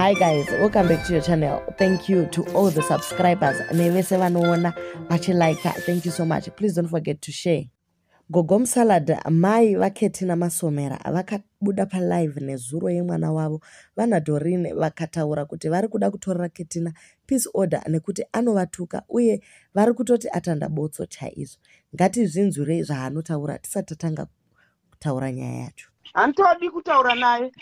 hi guys welcome back to your channel thank you to all the subscribers nevese vanoona vachilika thank you so much please don't forget to share gogom salad mai vaketina masomera vakabuda palive nezuro yemwana wavo vanadorine vakataura kuti vari kuda kutorera ketina peace order nekuti anovatuka uye vari kutoti atanda botso chaizvo ngatizvinzwirei zvaanotaura tisati tatanga kutaura nyaya yacho handitodi kutaura naye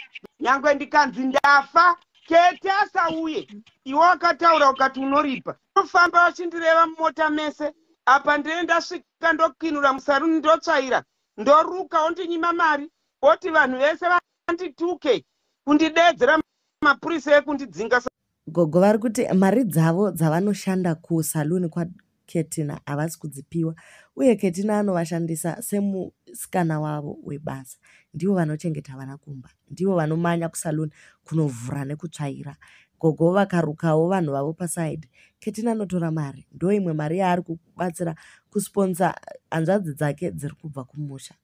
nyange ndikanzi ndafa kete asauye iwe wakataura ukati unoripa unofamba vachindireva mumota mese apa ndine ndasvika ndokinura musaruni ndotsvaira ndoruka ondinyima mari oti vanhu vese vandituke kundidedzera mapurisa ekundidzinga Gogo vari kuti mari dzavo dzavanoshanda kusaluni kwaKetina havasi kudzipiwa uye Ketina anovashandisa semusikana wavo webasa. Ndivo vanochengeta vana kumba, ndivo vanomanya kusaluni kunovhura nekutsvaira. Gogo vakarukawo vanhu vavo paside. Ketina anotora mari, ndo imwe mari yaari kubatsira kusponsa hanzvadzi dzake dziri kubva kumusha.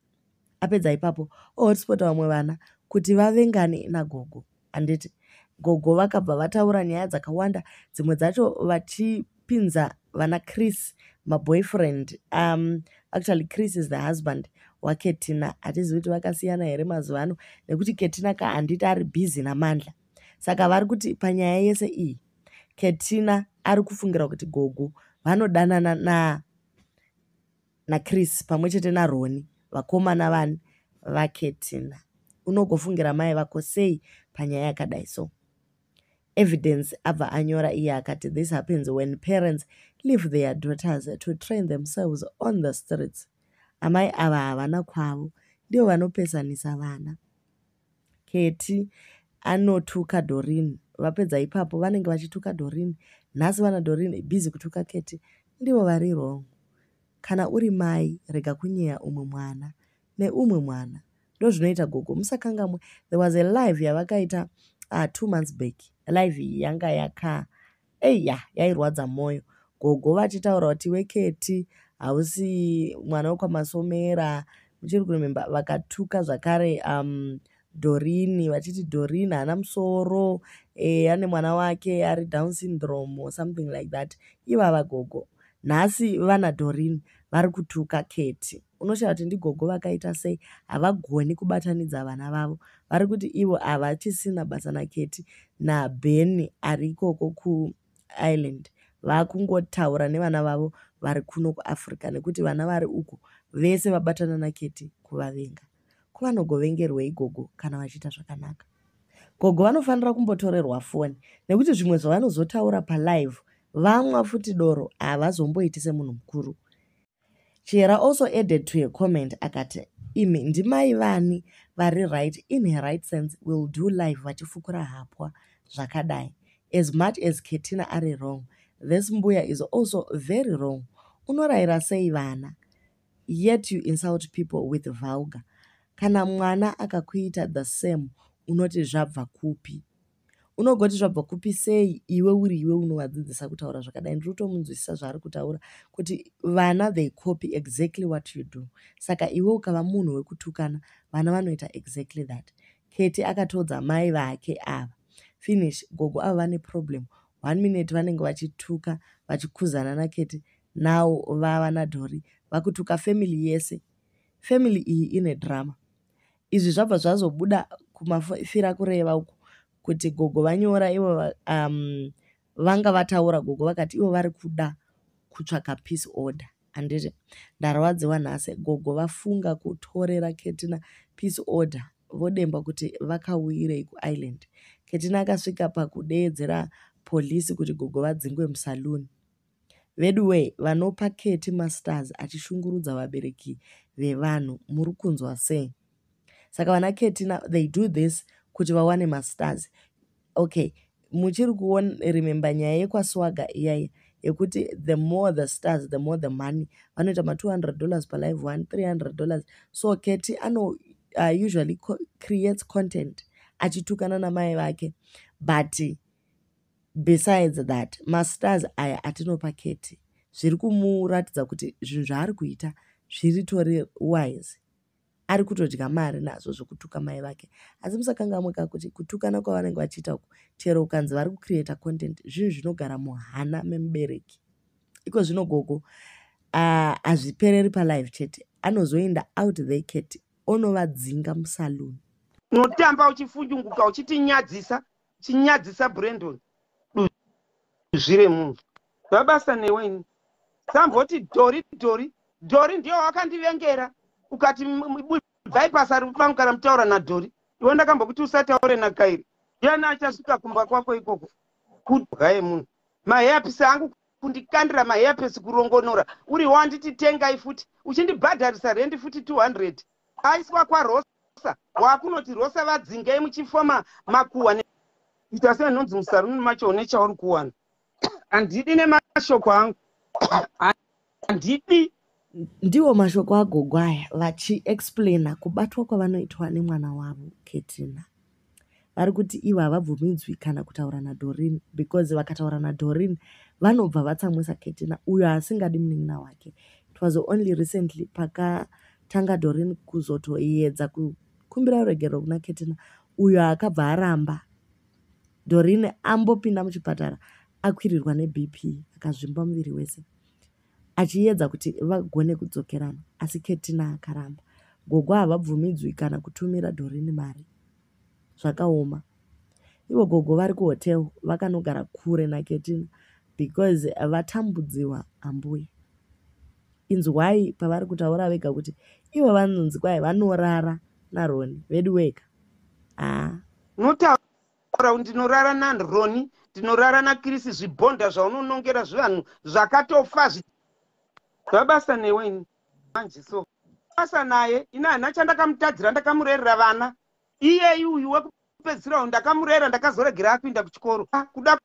Apedza ipapo ohotspota vamwe vana kuti vavengane nagogo. handiti gogo vakabva vataura nyaya dzakawanda dzimwe dzacho vachipinza vana chris maboyfriend um, actually chris is the husband waketina hatizivi kuti vakasiyana here mazuva ano nekuti ketina ka handiti ari busy namandla saka vari kuti panyaya yese iyi ketina ari kufungira kuti gogo vanodanana na naChris pamwe chete naRoni vakomana vani vaKetina. Unogofungira mai vako sei panyaya yakadai so? Evidence abva anyora iye akati this happens when parents leave their daughters to train themselves on the streets. Amai ava havana kwavo ndivo vanopesanisa vana. Ketty anotuka Doreen vapedza ipapo vanenge vachituka Doreen nhasi vana Doreen busy kutuka Ketty ndivo vari wrong kana uri mai rega kunyeya umwe mwana neumwe mwana ndozvinoita gogo musakangamwe there was a live yavakaita uh, two months back live iyi yanga yaka Ei ya yairwadza moyo gogo vachitaura kuti iwe keti hausi mwana wekwamasomera muchiri kurememba vakatuka zvakare um, dorini vachiti dorini haana musoro e, ane mwana wake ari down syndrome or something like that ivava gogo nhasi vana dorini vari kutuka keti Unoshaya kuti ndigogo vakaita sei havagoni kubatanidza vana vavo vari kuti ivo havachisina basa naKetty naBen ari ikoko kuIreland vakungotaura nevana vavo vari kuno kuAfrica nekuti vana vari uko vese vabatana naKetty kuvavenga. Ko vanogovengerwei gogo kana vachiita zvakanaka? Gogo vanofanira kumbotorerwa foni nekuti zvimwe zvavanozotaura palive vamwa futi doro havazomboiti semunhu mukuru. Chihera also added to her comment akati imi ndimai vani vari right in her right sense will do live vachifukura hapwa zvakadai as much as ketina ari wrong this mbuya is also very wrong unorayira sei vana yet you insult people with vulgar kana mwana akakuita the same unoti zvabva kupi unogoti zvabva kupi sei iwe uri iwe unovadzidzisa kutaura zvakadai ndiri kutomunzwisisa zvaari kutaura kuti vana they copy exactly what you do saka iwe ukava munhu wekutukana vana vanoita exactly that keti akatodza mai vake ava finish gogo ava vane problem one minute vanenge vachituka vachikuzana naketi now vava nadhori vakutuka family yese family iyi ine drama Izvi zvabva zvazobuda kumafira kureva uku kuti gogo vanyora ivo um, vanga vataura gogo vakati ivo vari kuda kutsvaka peace order handiti ndarwadziwa nhasi gogo vafunga kutorera ketina peace order vodemba kuti vakauyirei kuisland ketina akasvika pakudeedzera polisi kuti gogo vadzingwe musaluni Veduwee vanopa Ketty masters achishungurudza vabereki vevanhu muri kunzwa sei? Saka vana Ketty now they do this kuti vawane masters. Okay, muchiri kuona remember nyaya yekwaSwaga iyaya yekuti the more the stars the more the money vanoita ma 200 dollars per live one 300 dollars so Ketty ano uh, usually co creates content achitukana namai vake but Besides that mastars aya atinopa Ketty zviri kumuratidza kuti zvinhu zvaari kuita zviritori wise ari kutodya mari nazvo zvokutuka mai vake asi musakangamuka kuti kutukana kwavanenge vachiita uku chero ukanzi vari kucreata content zvinhu zvinogara muhana memubereki iko zvino gogo hazvipereri uh, palive chete anozoenda out the cat onovadzinga musaluni unotamba uchifunyunguka uchitinyadzisa chinyadzisa brandon duzvi remunhu vabasa newe ini samboti dhori dhori dhori ndiyo wakandivengera ukati bvai basa rikupangu kana mutaura nadhori iwe ndakambokuti usataure nakairi ndiani achasvika kumba kwako ikoko kudya yemunhu maheyapisi angu kundikandira maheyapisi kurongonora uriwo anditi tengai futi uchindibhadharisa rendi futi 200 aiswa kwarosa wakunoti rosa vadzingei muchifoma makuwa ita sei nonzi musaruni macho une chauri kuwana handidi nemashoko angu handidi ndiwo mashoko agogwaya vachiexplaina kubatwa kwavanoitwa nemwana wavo ketina vari kuti ivo havabvumidzwi kana kutaura nadhorin because vakataura nadhorin vanobva vatsamwisa ketina uyo asingadi munin'ina wake it was only recently pakatanga dorin kuzotoyedza kukumbira ruregerero kuna ketina uyo akabva aramba dorin ambopinda muchipatara akwirirwa nebp akazvimba muviri wese achiedza kuti vagone kudzokerana asi Ketina akaramba. Gogo havabvumidzwi kana kutumira Doreen mari. Zvakaoma. Ivo gogo vari kuhotel vakanogara kure naKetina because vatambudziwa ambuya. Inzwai pavari kutaura vega kuti ivo vanonzi kwai vanorara naRoni veduweka. Haa. Unotaura Crown ndinorara na Roni ndinorara na Chris zvibhonda zvaunonongera zvivanhu zvakatofa zvi zvabasa newe ini manje so basa naye ini hana chandakamutadzira ndakamurerera vana iyeyi uyu wekupedzisira uyu ndakamurera ndakazoregera akuinda kuchikoro ah, kuda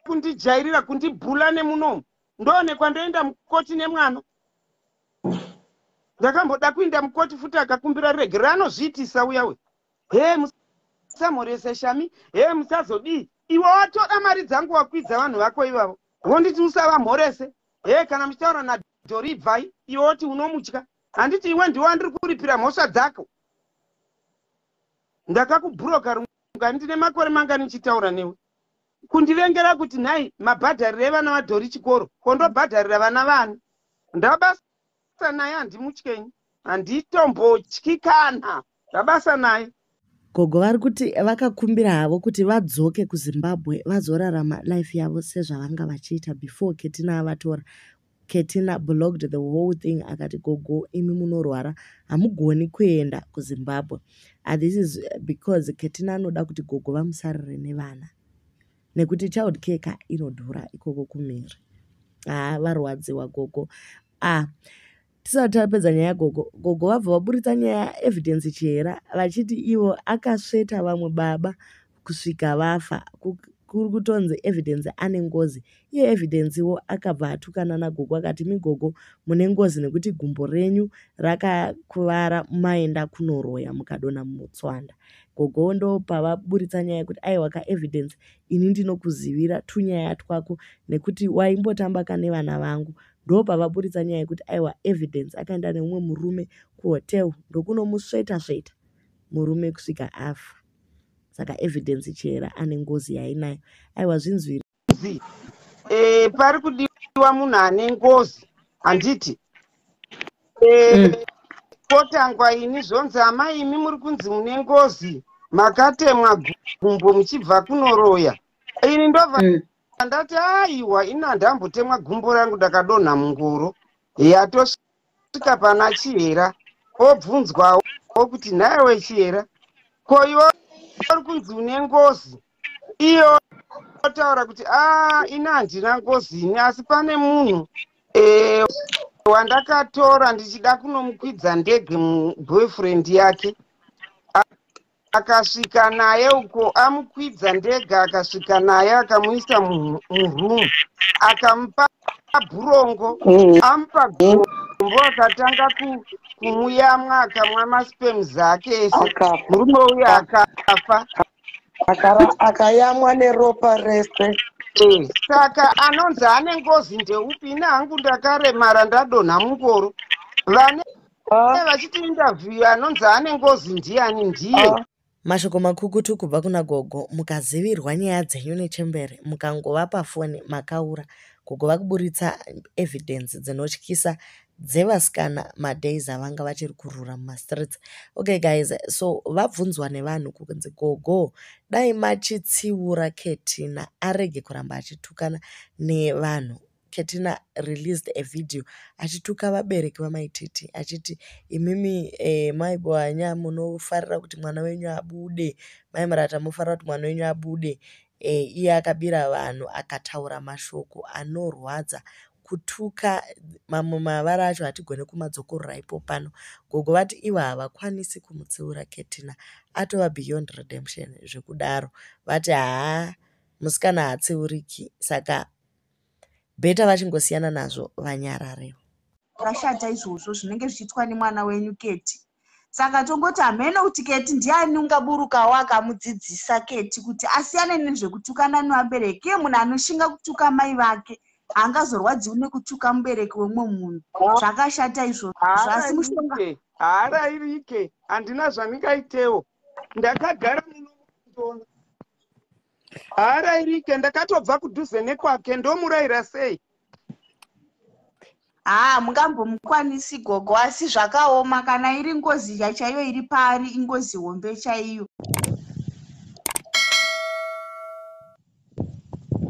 kundijairira kundibhula nemunomu ndoonekwa ndoenda mukoti nemwana ndakamboda kuinda mukoti futi akakumbira riregerero anozviitisa uya we hee musamhorese shami hee musazodii iwe watoda mari dzangu wakwidza vanhu vako ivavo vonditi usavamhorese hee kana muchitaura nadhori ibvai iwe woti unomutya handiti iwe ndiwe wandiri kuripira mhosva dzako ndakakubhuroka rungani ndine makore mangani ndichitaura newe kundivengera kuti nhai mabhadhariro evana vadhori chikoro kondobhadharira vana vani ndabasa Basa naye handimutyenyi. Handitombotyi kana. Zvabasa naye. Gogo vari kuti vakakumbira havo kuti vadzoke kuZimbabwe vazorarama life yavo sezvavanga vachiita before Ketina avatora. Ketina blocked the whole thing akati gogo imi munorwara hamugoni kuenda kuZimbabwe. And this is because Ketina anoda kuti gogo vamusarire nevana. nekuti child care ka inodhura ikoko kumhiri haa varwadziwa gogo ah tisati tapedza nyaya yagogo gogo vabva vaburitsa nyaya evidence chihera vachiti ivo akasveta vamwe baba kusvika vafa kuri kutonzi evidence ane ngozi iye evidence wo akabva atukana nagogo akati migogo mune ngozi nekuti gumbo renyu rakakuvara maenda kunoroya mukadona mutswanda Gogo ndopa vaburitsa nyaya yekuti aiwa ka evidence ini ndinokuzivira tunyaya twako nekuti waimbotamba ka nevana vangu ndopa vaburitsa nyaya yekuti aiwa evidence akaenda neumwe murume kuhotel ndokunomusveta sveta murume kusvika afa saka evidence chihera ane ngozi yainayo aiwa zvinzwiri ngozi eh, pari kudiwa munhu ane ngozi handiti eh, mm. kotangwa ini zvonzi amai imi muri kunzi mune ngozi makatemwa gumbo muchibva kunoroya ini ndobva mm. ndati aiwa ini handambotemwa gumbo rangu ndakadonha mungoro yatosha kusvika pana chihera obvunzwawo kuti nhaiwe chihera ko iwe uri kunzi une ngozi iyo otaura kuti a ah, ini handina ngozi ini asi pane munhu eh, wandakatora ndichida kunomukwidza ndege muboyfriend yake akasvika naye uko amukwidza ndega akasvika naye akamuisa muroom akamupa bhurongo mm. amupa gombo akatanga kumuyamwa akamwa maspem zake ese murume uyo akafa akayamwa neropa rese eh, saka anonzi ane ngozi ndeupi ini hangu ndakaremara ndadonha mungoro vane Ah. vachiti interview anonzi ane ngozi ndiani ndiye ah. mashoko makukutu kubva kuna gogo mukazivirwa nyaya dzenyu nechembere mukangova pafoni makaura gogo vakuburitsa evidence dzinotyisa dzevasikana madays avanga vachiri kurura mumastreets okay guys so vabvunzwa nevanhu kunzi gogo dai machitsiura ketina arege kuramba achitukana nevanhu Ketina released a video achituka vabereki vamai Titi achiti imimi eh, mai Bohanya munofarira kuti mwana wenyu abude, mai Murata munofarira kuti mwana wenyu abude. Eh, iye akabira vanhu akataura mashoko anorwadza kutuka mamwe mavara acho hatigone kumadzokorora ipo pano gogo vati ivo havakwanisi kumutsiura ketina atova beyond redemption zvekudaro vati haa musikana haatsiuriki saka better vachingosiyana nazvo vanyarare zvakashata izvozvo zvinenge zvichiitwa nemwana wenyu keti saka tongoti hameno kuti keti ndiani ungaburukawo akamudzidzisa keti kuti asiyane nezvekutukana nevabereki iye munhu anoshinga kutuka mai vake haangazorwadziwi nekutuka mubereki wemumwe munhu zvakashata izvozvo asi mushonga haarairike handina zvandingaitewo ndakagara muno haarairike ndakatobva kudhuze nekwake ndomuraira sei haa mungambomukwanisi gogo asi zvakaoma kana iri ngozi yachaiyo iri paari ingozi hombe chaiyo